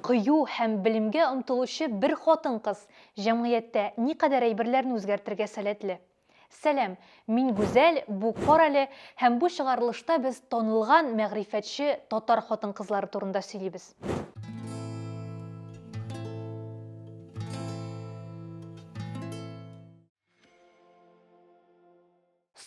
Кыю һәм белемгә омтылучы бер хатын-кыз җәмгыятьтә никадәр әйберләрне үзгәртергә сәләтле? Сәлам, мин Гүзәл, бу Карале һәм бу чыгарылышта без танылган мәгърифәтче татар хатын-кызлары турында сөйлибез.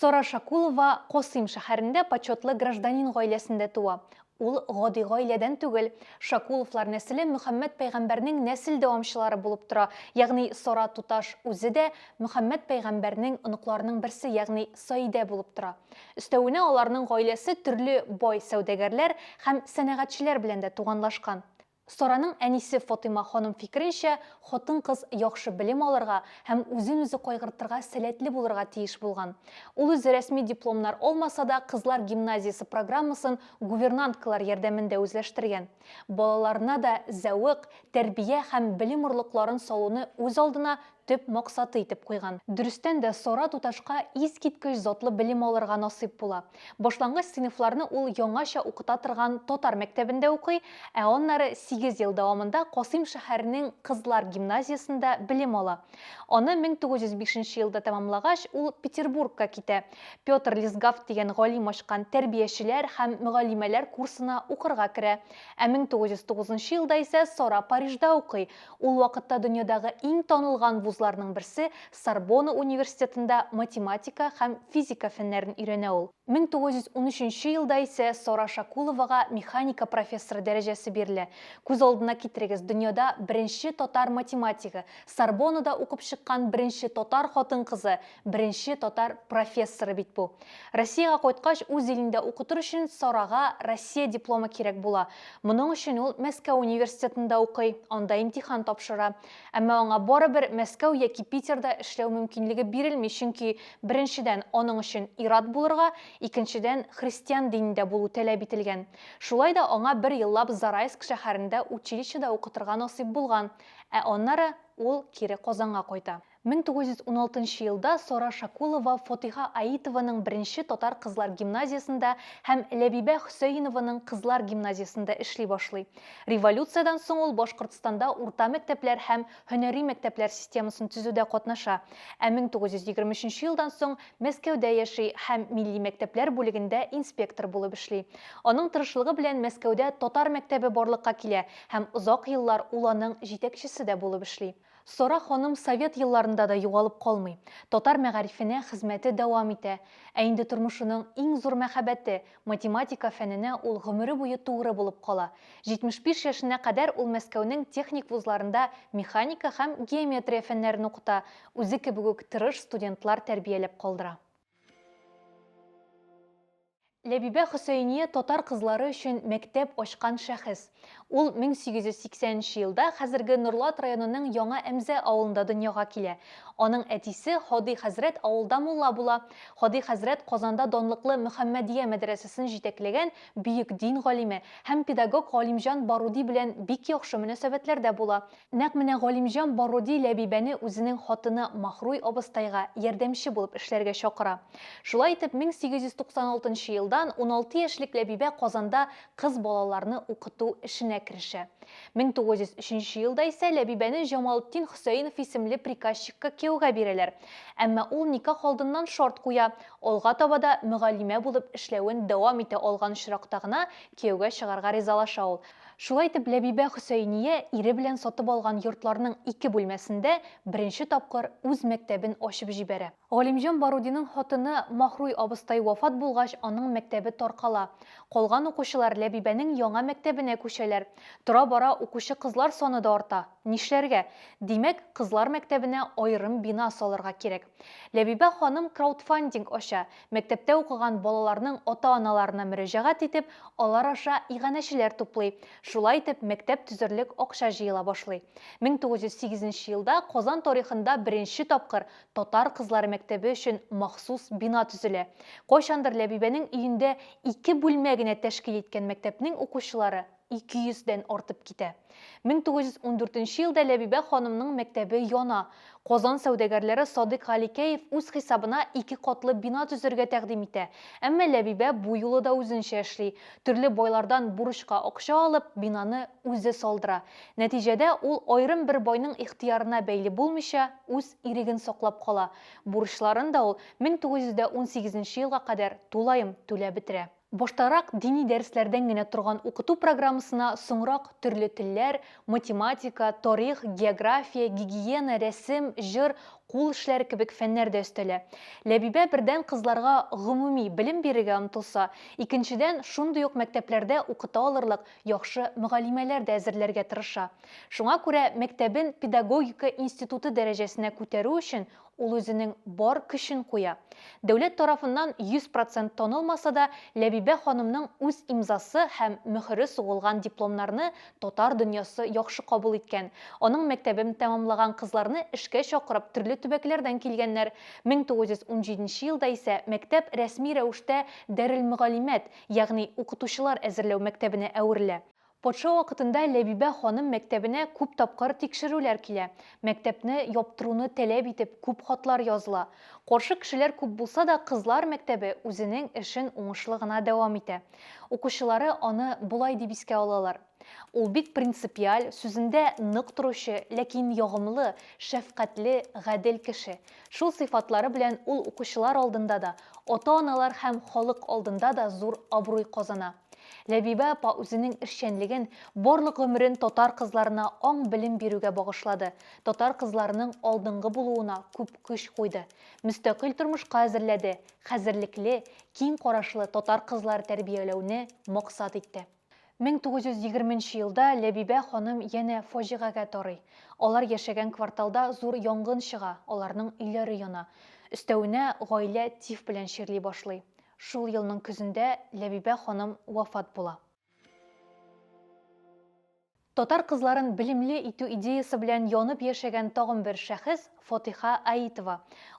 Сара Шакулова Косыйм шәһәрендә почетлы гражданин гаиләсендә туа. Ул гади гаиләдән түгел. Шакуловлар нәселе Мөхәммәд пәйгамбәрнең нәсел дәвамчылары булып тора, ягъни Сара туташ үзе дә Мөхәммәд пәйгамбәрнең оныкларының берсе, ягъни Саидә булып тора. Өстәвенә аларның гаиләсе төрле бай сәүдәгәрләр һәм сәнәгатьчеләр белән дә туганлашкан. Сараның әнисе Фатыйма ханым фикеренчә, хатын-кыз яхшы белем алырга һәм үзен-үзе кайгыртырга сәләтле булырга тиеш булган. Ул үзе рәсми дипломнар алмаса да, кызлар гимназиясе программасын гувернанткалар ярдәмендә үзләштергән. Балаларына да зәвык, тәрбия һәм белем орлыкларын салуны үз алдына төп максаты итеп куйган. Дөрестән дә, Сара туташка искиткеч затлы белем алырга насыйп була. Башлангыч сыйныфларны ул яңача укыта торган татар мәктәбендә укый, ә аннары сигез ел дәвамында Касыйм шәһәренең кызлар гимназиясендә белем ала. Аны 1905 елда тәмамлагач, ул Петербургка китә, Петр Лисгафт дигән галим ачкан тәрбиячеләр һәм мөгаллимәләр курсына укырга керә. Ә 1909 елда исә Сара Парижда укый, Ул вакытта дөньядагы иң танылган вузларның берсе Сорбона университетында математика һәм физика фәннәрен өйрәнә ул. 1913 нче елда исә Сара Шакуловага механика профессоры дәрәҗәсе бирелә. Күз алдына китерегез, дөньяда беренче татар математигы, Сорбонада укып чыккан беренче татар хатын-кызы, Беренче татар профессоры бит бу. Россиягә кайткач, үз илендә укытыр өчен Сарага Россия дипломы кирәк була. Моның өчен ул Мәскәү университетында укый, анда имтихан тапшыра. Әмма аңа барыбер Мәскәү яки Питерда эшләү мөмкинлеге бирелми, чөнки, беренчедән, аның өчен ир-ат булырга, икенчедән, христиан динендә булу таләп ителгән. Шулай да аңа бер еллап Зарайск шәһәрендә училищеда укытырга насыйп булган, ә аннары ул кире Казанга кайта. 1916 нчы елда Сара Шакулова Фотиха Аитованың беренче татар кызлар гимназиясендә һәм Ләбибә Хөсәенованың кызлар гимназиясендә эшли башлый. Революциядән соң ул Башкортстанда урта мәктәпләр һәм һөнәри мәктәпләр системасын төзүдә катнаша, ә 1923 елдан соң Мәскәүдә яши һәм милли мәктәпләр бүлегендә инспектор булып эшли. Аның тырышлыгы белән Мәскәүдә татар мәктәбе барлыкка килә һәм озак еллар ул аның җитәкчесе дә булып эшли. Сара ханым совет елларында да югалып калмый, татар мәгарифенә хезмәте дәвам итә. Ә инде тормышының иң зур мәхәббәте, математика фәненә ул гомере буе тугры булып кала. 75 яшенә кадәр ул Мәскәүнең техник вузларында механика һәм геометрия фәннәрен укыта, үзе кебек үк тырыш студентлар тәрбияләп калдыра. Ләбибә Хөсәения татар кызлары өчен мәктәп ачкан шәхес. Ул 1880 нче елда хәзерге Норлат районының Яңа Әмзә авылында дөньяга килә. Аның әтисе Һади хәзрәт авылда мулла була. Һади хәзрәт Казанда данлыклы Мөхәммәдия мәдрәсәсен җитәкләгән бөек дин галиме һәм педагог Галимҗан Баруди белән бик яхшы мөнәсәбәтләрдә була. Нәкъ менә Галимҗан Бароди Ләбибәне үзенең хатыны Махруй абыстайга ярдәмче булып эшләргә чакыра. Шулай итеп, 1896 нчы елдан уналты яшьлек Ләбибә Казанда кыз балаларны укыту эшенә керешә. 1903 нче елда исә Ләбибәне Җамалтдин Хөсәенов исемле приказчикка кияүгә бирәләр. Әмма ул никах алдыннан шарт куя, алга таба да мөгаллимә булып эшләвен дәвам итә алган очракта гына кияүгә чыгарга ризалаша ул. Шулай итеп, Ләбибә Хөсәения ире белән сатып алган йортларның ике бүлмәсендә беренче тапкыр үз мәктәбен ачып җибәрә. Галимҗан Барудинның хатыны Махруй абыстай вафат булгач, аның мәктәбе таркала. Калган укучылар Ләбибәнең яңа мәктәбенә күчәләр. Тора-бара укучы кызлар саны да арта. Нишләргә? Димәк, кызлар мәктәбенә аерым бина салырга кирәк. Ләбибә ханым краудфандинг ача, Мәктәптә укыган балаларның ата-аналарына мөрәҗәгать итеп, алар аша иганәчеләр туплый. Шулай итеп, мәктәп төзерлек акча җыела башлый. 1908 нче елда Казан тарихында беренче тапкыр татар кызлары мәктәбе өчен махсус бина төзелә. Кайчандыр Ләбибәнең өендә ике бүлмә генә тәшкил иткән мәктәпнең укучылары, 200 дән артып китә. 1914 елда Ләбибә ханымның мәктәбе яна. Казан сәүдәгәрләре Садыйк Галикәев үз хисабына ике катлы бина төзергә тәкъдим итә. Әмма Ләбибә бу юлы да үзенчә эшли. Төрле байлардан бурычка акча алып, бинаны үзе салдыра. Нәтиҗәдә ул аерым бер байның ихтыярына бәйле булмыйча, үз иреген саклап кала. Бурычларын да ул 1918 елга кадәр тулаем түләп бетерә. Баштарак дини дәресләрдән генә торган укыту программасына соңрак төрле телләр, математика, тарих, география, гигиена, рәсем, җыр, кул эшләре кебек фәннәр дә өстәлә. Ләбибә бердән кызларга гомуми белем бирергә омтылса, икенчедән шундый ук мәктәпләрдә укыта алырлык яхшы мөгалимәләр дә әзерләргә тырыша. Шуңа күрә мәктәбен педагогика институты дәрәҗәсенә күтәрү өчен Ул үзенең бар көчен куя. Дәүләт тарафыннан 100 процент танылмаса да, Ләбибә ханымның үз имзасы һәм мөһере сугылган дипломнарны татар дөньясы яхшы кабул иткән. Аның мәктәбен тәмамлаган кызларны эшкә чакырып төрле төбәкләрдән килгәннәр. 1917 елда исә мәктәп рәсми рәвештә Дарелмөгалимәт, ягъни Укытучылар әзерләү мәктәбенә әверелә. Патша вакытында Ләбибә ханым мәктәбенә күп тапкыр тикшерүләр килә, мәктәпне яптыруны таләп итеп күп хатлар языла. Каршы кешеләр күп булса да, кызлар мәктәбе үзенең эшен уңышлы гына дәвам итә. Укучылары аны болай дип искә алалар, Ул бик принципиаль, сүзендә нык торучы, ләкин ягымлы, шәфкатьле, гадел кеше. Шул сыйфатлары белән ул укучылар алдында да, ата-аналар һәм халык алдында да зур абруй казана. Ләбибә апа үзенең эшчәнлеген, барлык гомерен татар кызларына аң-белем бирүгә багышлады, татар кызларының алдынгы булуына күп көч куйды, мөстәкыйль тормышка әзерләде, хәзерлекле, киң карашлы татар кызлар тәрбияләүне максат итте. 1920 нче елда Ләбибә ханым янә фаҗигагә тарый. Алар яшәгән кварталда зур янгын чыга, аларның өйләре яна. Өстәвенә, гаилә тиф белән чирли башлый. Шул елның көзендә Ләбибә ханым вафат була. Татар кызларын белемле итү идеясы белән янып яшәгән тагын бер шәхес, Фатыйха Аитова.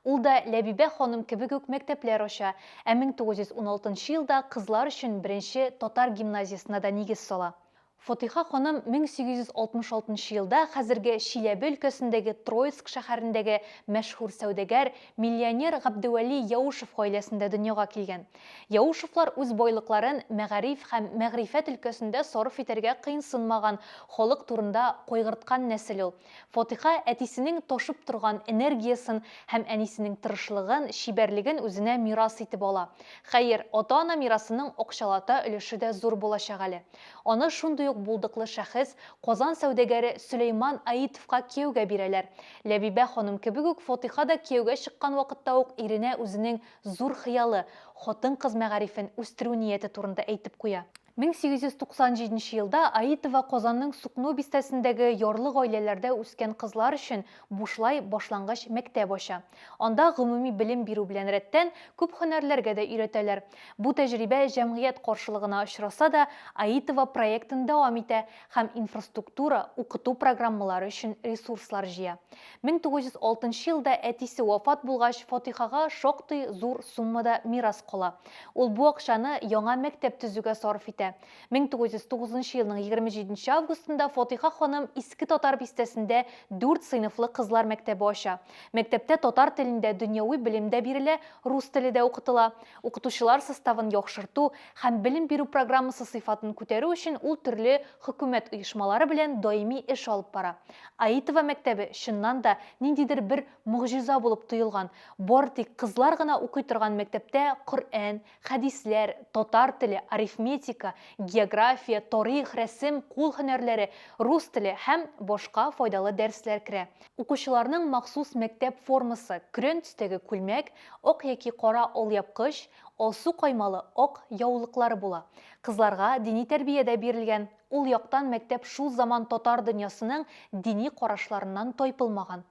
Ул да Ләбибә ханым кебек үк мәктәпләр ача, ә 1916 елда кызлар өчен беренче татар гимназиясенә дә нигез сала. Фатыйха ханым 1866 нчы елда хәзерге Чиләбе өлкәсендәге Троицк шәһәрендәге мәшһүр сәүдәгәр, миллионер Габдевәли Яушев гаиләсендә дөньяга килгән. Яушевлар үз байлыкларын мәгариф һәм мәгърифәт өлкәсендә сарыф итәргә кыенсынмаган халык турында кайгырткан нәсел ул. Фатыйха әтисенең ташып торган энергиясен һәм әнисенең тырышлыгын, чибәрлеген үзенә мирас итеп ала. Хәер, ата-ана мирасының акчалата өлеше дә зур булачак әле. Аны шундый ук булдыклы шәхес, Казан сәүдәгәре Сөләйман Аитовка кияүгә бирәләр. Ләбибә ханым кебек үк Фотыйха да кияүгә чыккан вакытта ук иренә үзенең зур хыялы, хатын-кыз мәгарифен үстерү нияте турында әйтеп куя. 1897 нче елда Аитова Казанның Сукно бистәсендәге ярлы гаиләләрдә үскән кызлар өчен бушлай башлангыч мәктәп ача. Анда гомуми белем бирү белән рәттән күп һөнәрләргә дә өйрәтәләр. Бу тәҗрибә җәмгыять каршылыгына очраса да, Аитова проектын дәвам итә һәм инфраструктура, укыту программалары өчен ресурслар җыя. 1906 елда әтисе вафат булгач, Фатыйхага шактый зур суммада мирас кала. Ул бу акчаны яңа мәктәп төзүгә сарыф итә. 1909 елның 27 августында Фатыйха ханым Иске Татар бистәсендә дүрт сыйныфлы кызлар мәктәбе ача. Мәктәптә татар телендә дөньяви белем дә бирелә, рус теле дә укытыла. Укытучылар составын яхшырту һәм белем бирү программасы сыйфатын күтәрү өчен ул төрле хөкүмәт оешмалары белән даими эш алып бара. Аитова мәктәбе, чыннан да, ниндидер бер могҗиза булып тоелган. Бары тик кызлар гына укый торган мәктәптә Коръән, Хәдисләр, татар теле, арифметика, география, тарих, рәсем, кул һөнәрләре, рус теле һәм башка файдалы дәресләр керә. Укучыларның махсус мәктәп формасы, көрән төстәге күлмәк, ак яки кара алъяпкыч, алсу каймалы ак яулыклары була. Кызларга дини тәрбия дә бирелгән, Ул яктан мәктәп шул заман татар дөньясының дини карашларыннан тайпылмаган.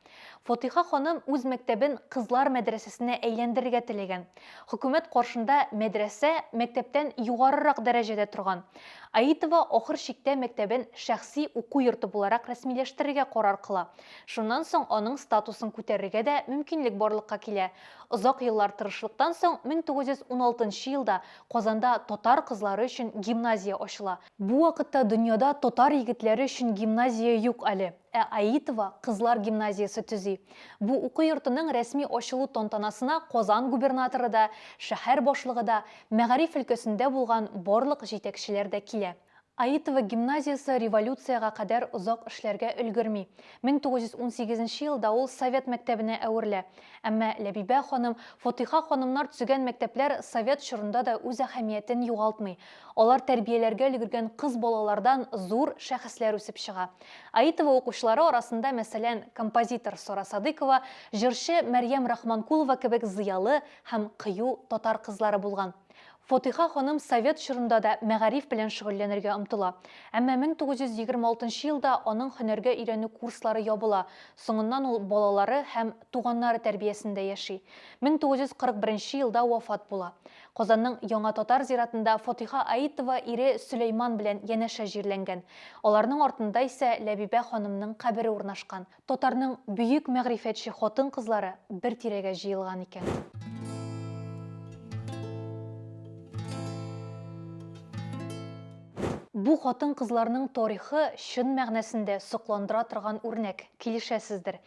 Фатыйха ханым үз мәктәбен кызлар мәдрәсәсенә әйләндерергә теләгән. Хөкүмәт каршында мәдрәсә, мәктәптән югарырак дәрәҗәдә торган. Аитова ахыр чиктә мәктәбен шәхси уку йорты буларак рәсмиләштерергә карар кыла. Шуннан соң аның статусын күтәрергә дә мөмкинлек барлыкка килә. Озак еллар тырышлыктан соң 1916 елда Казанда татар кызлары өчен гимназия ачыла. Бу вакытта дөньяда татар егетләре өчен гимназия юк әле. Ә Аитова кызлар гимназиясе төзи. Бу уку йортының рәсми ачылу тантанасына Казан губернаторы да, шәһәр башлыгы да, мәгариф өлкәсендә булган барлык җитәкчеләр дә килә. Аитова гимназиясе революциягә кадәр озак эшләргә өлгерми. 1918 елда ул совет мәктәбенә әверелә. Әмма Ләбибә ханым, Фатыйха ханымнар төзегән мәктәпләр совет чорында да үз әһәмиятен югалтмый. Алар тәрбияләргә өлгергән кыз балалардан зур шәхесләр үсеп чыга. Аитова укучылары арасында, мәсәлән, композитор Сара Садыкова, җырчы Мәрьям Рахманкулова кебек зыялы һәм кыю татар кызлары булган. Фатыйха ханым совет чорында да мәгариф белән шөгыльләнергә омтыла. Әмма 1926 елда аның һөнәргә өйрәнү курслары ябыла, соңыннан ул балалары һәм туганнары тәрбиясендә яши. 1941 елда вафат була. Казанның Яңа татар зиратында Фатыйха Аитова ире Сөләйман белән янәшә җирләнгән. Аларның артында исә Ләбибә ханымның кабере урнашкан. татарның бөек мәгърифәтче хатын-кызлары бер тирәгә җыелган икән. Бу хатын-кызларның тарихы чын мәгънәсендә сокландыра торган үрнәк, килешәсездер.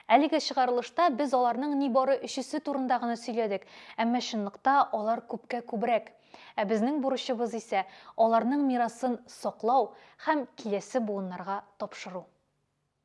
Әлеге чыгарылышта без аларның нибары өчесе турында гына сөйләдек, әмма чынлыкта алар күпкә күбрәк. Ә безнең бурычыбыз исә аларның мирасын саклау һәм киләсе буыннарга тапшыру.